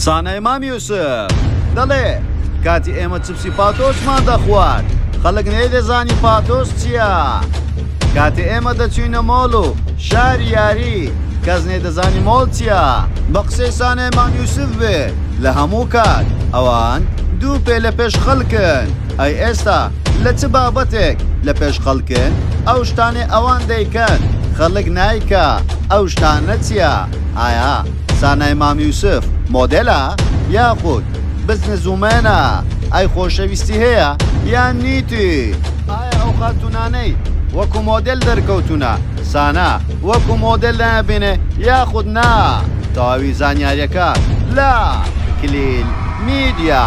سانای مام یوسف دەڵێ، کاتی ئێمە چپسی پاتۆسمان دەخوارد، خەڵک نەیدەزانی پاتۆس چییە. کاتێ ئێمە دەچووینە مۆڵ و شاری یاری، کەس نەیدەزانی مۆڵ چییە. بە قسەی سانای مام یوسف بێ لە هەموو کات ئەوان دوو پێ لە پێش خەڵکن. ئەی ئێستا لە چ بابەتێک لە پێش خەڵکن؟ ئەو شتانەی ئەوان دەیکەن خەڵک نایکا، ئەو شتانە چییە؟ ئایا. سانای مام یوسف مۆدێلە یاخود بزنس ومێنە ئای خۆشەویستی هەیە یان نیتی ئایا ئەو خاتونانەی وەکو مۆدێل دەرکەوتونە سانا وەکو مۆدێل دەبێنێ یاخود نا تەواوی زانیاریەکە لە کلیل میدیا.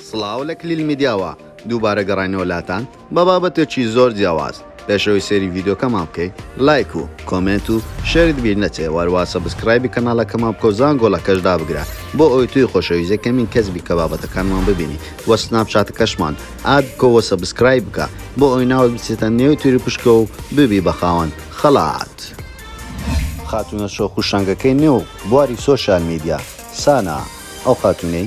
سڵاو لە کلیل میدیاوە دووبارە گەڕاینەوە لاتان بە بابەتێکی زۆر جیاواز. پێش ئەوەی سەیری ڤیدیۆکەمان بکەیت لایک و کۆمێنت و شێرت بیر نەچێ وەروا سەبسکرایبی کەناڵەکەمان بکەو زانگۆڵەکەش دابگرە بۆ ئەوەی تۆی خۆشەویست یەکەمین کەس بی کە بابەتەکانمان ببینی وە سناپچاتەکەشمان ئاد بکەو وە سەبسکرایب بکە بۆ ئەوەی ناوت بچێتە نێو تیروپشکە و ببی بە خاوەن خەڵات. خاتونە شۆخ و شەنگەکەی نێو بواری سۆشیال میدیا سانا ئەو خاتونەی.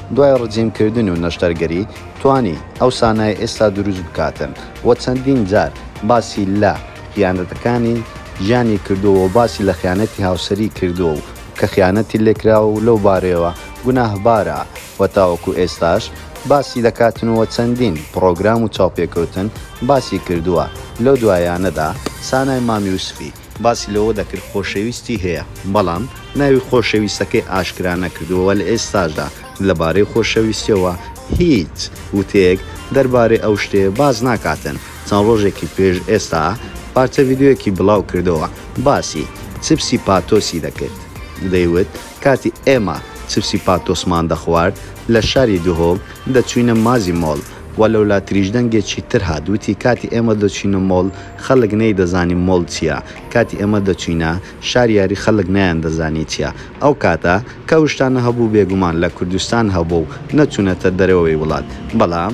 دوای ڕجیم کردن و نەشتەرگەری توانی ئەو سانایە ئێستا دروست بکاتن وە چەندین جار باسی لە خیانەتەکانی ژیانی کردووە و باسی لە خیانەتی هاوسەری کردووە و کە خیانەتی لێکراوە و لەو بارەیەوە گوناهبارە وە تاوەکو ئێستاش باسی دەکاتن وە چەندین پڕۆگرام و چاوپێکەوتن باسی کردووە لەو دوایانەدا سانای مام یوسفی باسی لەوە دەکرد خۆشەویستی هەیە، بەڵام ناوی خۆشەویستەکەی ئاشکرا نەکردووە و لە ئێستاشدا لەبارەی خۆشەویستییەوە هیچ وتەیەک دەربارەی ئەو شتەیە باس ناکاتن چەند ڕۆژێکی پێش ئێستا پارچە ڤیدیۆیەکی بڵاو کردەوە باسی چپسی پاتۆسی دەکرد دەیوت کاتی ئێمە چپسی پاتۆسمان دەخوارد لە شاری دهۆک دەچووینە مازی مۆڵ وە لەولا تریش دەنگێکی تر هات وتی کاتی ئێمە دەچوینە مۆڵ خەلک نەی دەزانی مۆڵ چیە کاتی ئێمە دەچوینە شار یاری خەلک نەیان دەزانی چیە ئەو کاتە کە ئەو شتانە هەبوو بێگومان لە کوردستان هەبوو و نەچونەتە دەرەوەی وڵات بەڵام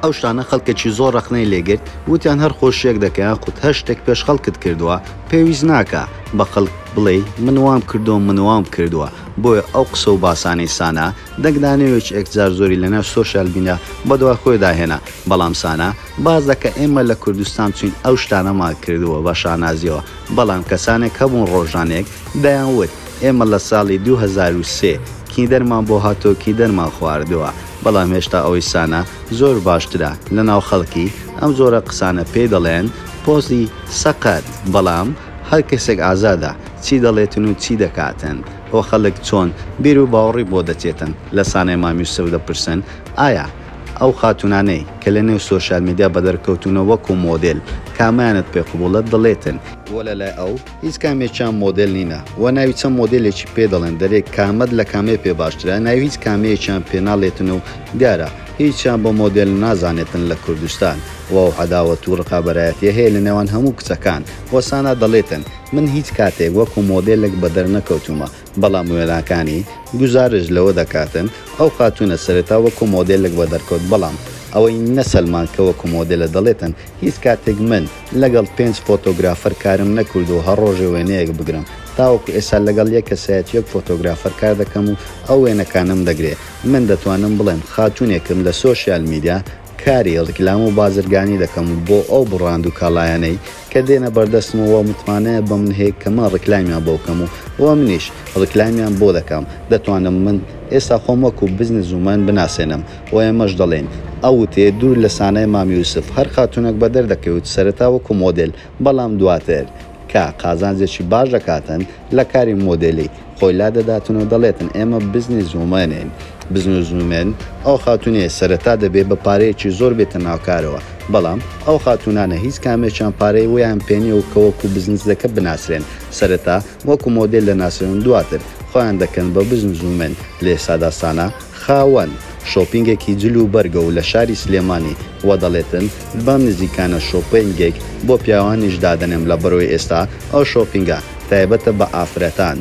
ئەو شتانە خەلکێکی زۆر رەخنەی لێ گرت وتیان هەر خۆشیەک دەکە یاخود هەر شتێک پێش خەلکت کردوە پێویست ناکا بە خەلک بڵێی من وام کردوە من وام کردوە بۆیە ئەو قسە و باسانەی سانا دەنگ دانێ وێچ ئێک جار زۆری لە ناو سۆشیال میدیا بە دوا خۆێ دا هێنا بەڵام سانا باس دە کە ئێمە لە کوردستان چوین ئەو شتانە مان کردوە بە شانازیەوە بەڵام کە سانێک هەبوون ڕۆژانێک دەیان وت ئێمە لە ساڵی دوو هەزار و سێ کیندەر مان بۆ هاتوە کیندەر مان خواردوە بەڵام هێشتا ئەوەی سانا زۆر باشترە لە ناو خەڵکی ئەم جۆرە قسانە پێی دەڵێن پۆزی سەقەت بەڵام هەر کەسێک ئازادە چی دەڵێتن و چی دەکاتن ئۆ خەلک چۆن بیرو باوڕی بۆ دەچێتن لە سانای مام یوسف دەپرسن ئایا ئەو خاتونانەی کە لە نێو سۆشیال میدیا بەدەر کەوتونە وەکو مۆدێل کامەیانت پێ قبوڵە دڵێتن بۆ لە لای ئەو هیچ کامێکیان مۆدێل نینە وە ناوی چەند مۆدێلێکی پێ دەڵێن دەرێ کامەت لە کامەی پێ باشترە ناوی هیچ کامەیەکیان پێ ناڵێتن و دیارە هیچیان بە مۆدێل نازانێتن لە کوردستان وە ئەو عەداوەت و ڕقابەرایەتیە هەیە لە نێوان هەموو کچەکان وە سانا دەڵێتن من هیچ کاتێک وەکو مۆدێلێک بەدەرنەکەوتوومە، بەڵام وێناکانی، گوزارشت لەوە دەکاتن، ئەو خاتوونە سەرەتا وەکو مۆدێلێک بەدەرکەوت، بەڵام ئەوەی نە سەلمان کە وەکو مۆدێلە دەڵێتن، هیچ کاتێک من لەگەڵ پێنج فۆتۆگرافەر کارم نەکردووە هەر ڕۆژێ وێنەیەک بگرم، تاوەکو ئێستا لەگەڵ یەک کەسایەتی و یەک فۆتۆگرافەر کار دەکەم و ئەو وێنەکانم دەگرێ، من دەتوانم بڵێم خاتوونێکم لە سۆشیال میدیا کاری ڕیکلام و بازرگانی دەکەم بۆ ئەو بڕاند و کاڵایانەی کە دێنە بەردەستم و متمانەیە بەمن هەیە کە من ڕیکلامیان بۆ بکەم و و منیش ڕیکلامیان بۆ دەکەم دەتوانم من ئێستا خۆم وەکو بزنس وومەن بناسێنم و ئێمەش دەڵێین ئەو وتەیە دوور لە سانای مام یوسف هەر خاتوونەک بەدەر دەکەوێت سەرەتا وەکو مۆدێل بەڵام دواتر کە قازانجێکی باش دەکاتن لە کاری مۆدێلی خۆی لادەداتن و دەڵێتن ئێمە بزنس وومەنین، Business Women، ئەو خاتوونەیە سەرەتا دەبێ بە پارەیەکی زۆر بێتە ناو کارەوە، بەڵام ئەو خاتوونانە هیچ کامێکیان پارەی وەیان پێ نیە و کە وەکو بزنسزەکە بناسرێن سەرەتا وەکو مۆدێل دەناسرێن و دواتر خۆیان دەکەن بە بزنس وومەن لە ئێستادا سانا خاوەن شۆپینگێکی جل و بەرگە و لە شاری سلێمانی و دەڵێتن بەم نزیکانە شۆپێنگێک بۆ پیاوانیش دادەنێم لە بەرۆی ئێستا ئەو شۆپینگە تایبەتە بە ئافرەتان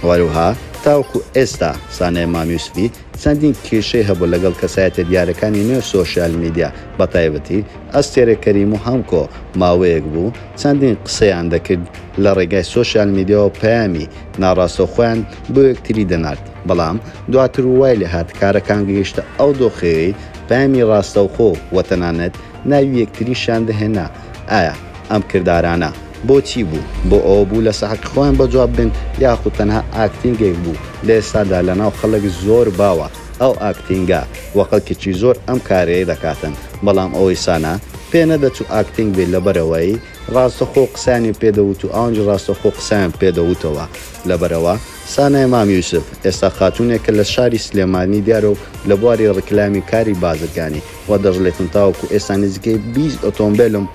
هەروها تاوەکو ئێستا سانای مام یوسفی چەندین کێشەی هەبوو لەگەڵ کەسایەتە دیارەکانی نێو سۆشیال میدیا بە تایبەتی ئەستێرە کەریم و هەمکۆ ماوەیەک بوو چەندین قسەیان دەکرد لە ڕێگای سۆشیال میدیاوە پەیامی ناڕاستەوخۆیان بۆ یەکتری دەنارد بەڵام دواتر وای لێ هات کارەکان گەیشتە ئەو دۆخەی پەیامی ڕاستەوخۆ و تەنانەت ناوی یەکتریشیان دەهێنا، ئایا ئەم کردارانە بۆچی بوو؟ بۆ ئەوە بوو لە سەعەتی خۆیان بە جواب بن یاخود تەنها ئاکتینگێک بوو؟ لە ئێستادا لە ناو خەڵک زۆر باوە ئەو ئاکتینگە و خەڵکێکی زۆر ئەم کارەی دەکاتن بەڵام ئەوەی سانا پێ نەدەچوو ئاکتینگ بێت لەبەرئەوەی ڕاستەخۆ قسەیانی پێ دەوت و ئەوانیش ڕاستەخۆ قسەیان پێ دەوتەوە لەبەرئەوە سانای مام یوسف، ئێستا خاتوونێکە لە شاری سلێمانی دیارە و لە بواری ڕیکلامی و کاری بازرگانی، وا دەشڵێتم تاوەکو ئێستا نزیکەی بیست ئۆتۆمبێلم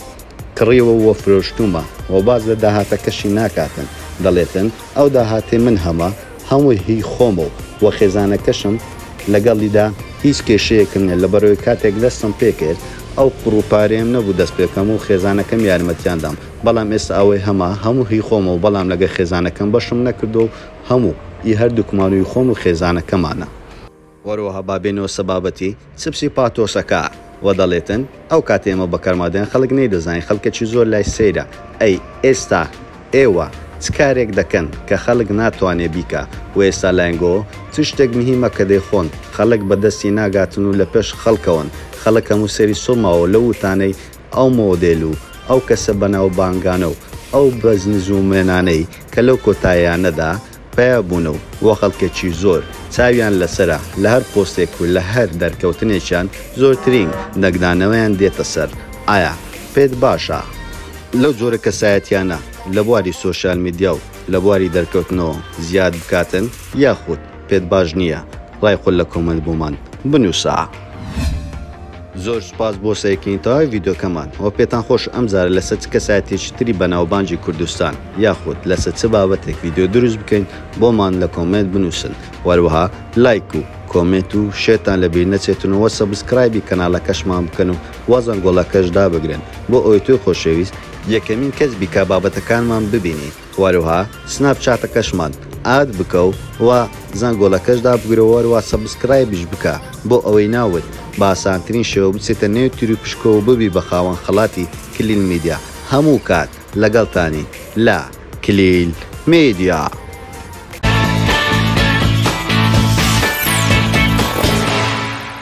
کڕیوە و فرۆشتوومە و باس لە داهاتەکەشی ناکاتن، دەڵێتن ئەو داهاتەی من هەمە هەمووی هی خۆمە و وە خێزانەکەشم لەگەڵیدا هیچ کێشەیەکم نیە، لەبەرئەوەی کاتێک دەستم پێکرد ئەو پڕ و پارەیەم نەبوو دەست پێکەم و خێزانەکەم یارمەتیان دام. بەڵام ئێستا ئەوەی هەمە هەموو هی خۆمە و بەڵام لەگەر خێزانەکەم بەشم نەکردووە و هەموو ی هەردووکمان و ی خۆم و خێزانەکەمانە. هەروەها با بێینەوە سە بابەتی چپسی پاتۆسەکە وە دەڵێتن ئەو کاتە ئێمە بە کەرما دەیان خەڵک نەیدەزانی خەڵکەکی زۆر لای سەیرە ئەی ئێستا ئێوە چ کارێک دەکەن کە خەڵک ناتوانێ بیکا وە ئێستا لاینگۆ چ شتێک مهیمە کە دەیخۆن خەڵک بە دەستی ناگاتن و لە پێش خەڵکەوەن خەڵک هەموو سەری سوڕماوە لەو وتانەی ئەو مۆدێل و ئەو کەسە بەناوبانگانە و ئەو بزنزومەنانەی کە لەو کۆتاییانەدا پەیا بوونە و وە خەڵکێکی زۆر چاویان لەسەرە لە هەر پۆستێک و لە هەر دەرکەوتنێکیان زۆرترین دەنگدانەوەیان دێتە سەر ئایا پێت باشە لەو جۆرە کەسایەتیانە لە بواری سۆشیال میدیا و لە بواری دەرکەوتنەوە زیاد بکاتن یاخود پێت باش نییە؟ ڕای خۆت لە کۆمێنت بۆمان بنووسە. زۆر سوپاس بۆ سەیرکردنی تەواوی ڤیدیۆکەمان وە پێتان خۆشە ئەم جارە لەسەر چ کەسایەتیەکی تری بەناوبانگی کوردستان یاخود لەسە چ بابەتێک ڤیدیۆ دروست بکەین بۆمان لە کۆمێنت بنووسن وە هەروەها لایک و کۆمێنت و شێرتان لە بیر نەچێتن و وە سەبسکرایبی کەنالەکەشمان بکەن و وە زەنگۆڵەکەش دابگرن بۆ ئەوەی تۆی خۆشەویست یەکەمین کەس بی کە بابەتەکانمان ببینی. هەروەها سناپ چاتەکەشمان ئاد بکە و و زەنگۆڵەکەش دابگرە و هەروەها سەبسکرایبیش بکە بۆ ئەوەی ناوت بە ئاسانترین شێوە بچێتە نێو تیروپشکەوە و ببی بە خاوەن خەڵاتی کلیل میدیا هەموو کات لەگەڵتانین لە کلیل میدیا.